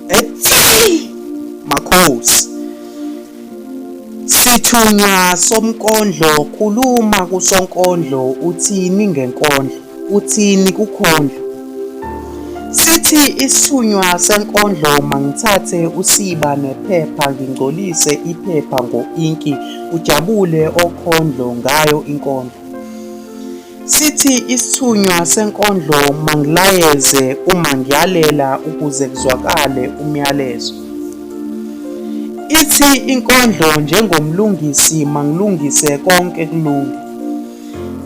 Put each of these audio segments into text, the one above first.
Hey! Makhosi. Sithunywa somkondlo khuluma kusonkondlo uthini ngenkondlo uthini kukhondlo Sithi isithunywa senkondlo mangithathe usiba nephepha ngingcolise iphepha ngo-inki kujabule okhondlo ngayo inkondlo. Sithi isithunywa senkondlo mangilayeze uma ngiyalela ukuze kuzwakale umyalezo. Ithi inkondlo njengomlungisi mangilungise konke kulunge.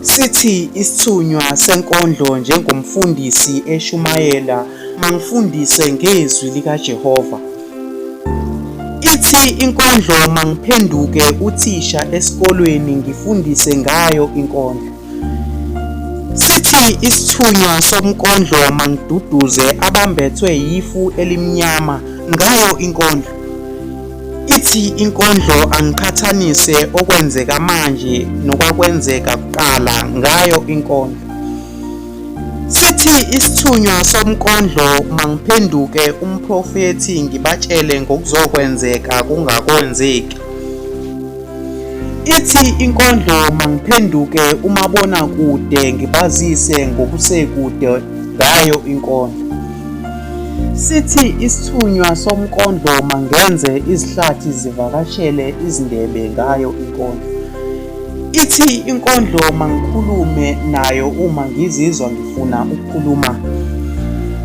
Sithi isithunywa senkondlo njengomfundisi eshumayela mangifundise ngezwi likaJehova. Ithi inkondlo mangiphenduke uthisha esikolweni ngifundise ngayo inkondlo. Sithi isithunywa somkondlo mangiduduze abambethwe yifu elimnyama ngayo inkondlo. Ithi inkondlo angiqhathanise okwenzeka manje nokwakwenzeka kuqala ngayo inkondlo. Sithi isithunywa somkondlo mangiphenduke umprofethi ngibatshele ngokuzokwenzeka kungakwenzeki. Ithi inkondlo mangiphenduke umabona kude ngibazise ngokusekude ngayo inkondlo. Sithi isithunywa somkondlo mangenze izihlathi zivakashele izindebe ngayo inkondlo. Ithi inkondlo mangikhulume nayo uma ngizizwa ngifuna ukukhuluma.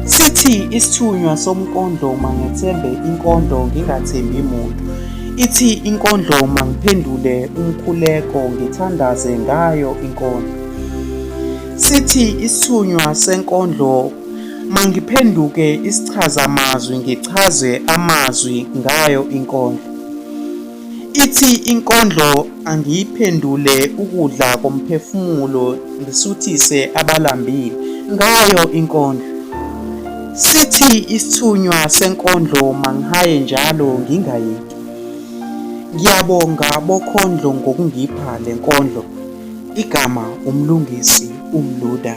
Sithi isithunywa somkondlo mangethembe inkondlo ngingathembi muntu. Ithi inkondlo mangiphendule umkhuleko ngithandaze ngayo inkondlo. Sithi isithunywa senkondlo mangiphenduke isichazamazwi ngichaze amazwi ngayo inkondlo. Ithi inkondlo angiyiphendule ukudla komphefumulo ngisuthise abalambile ngayo inkondlo. Sithi isithunywa senkondlo mangihaye njalo ngingayeki. Ngiyabonga bokhondlo ngokungipha le nkondlo. Igama uMlungisi uMluda.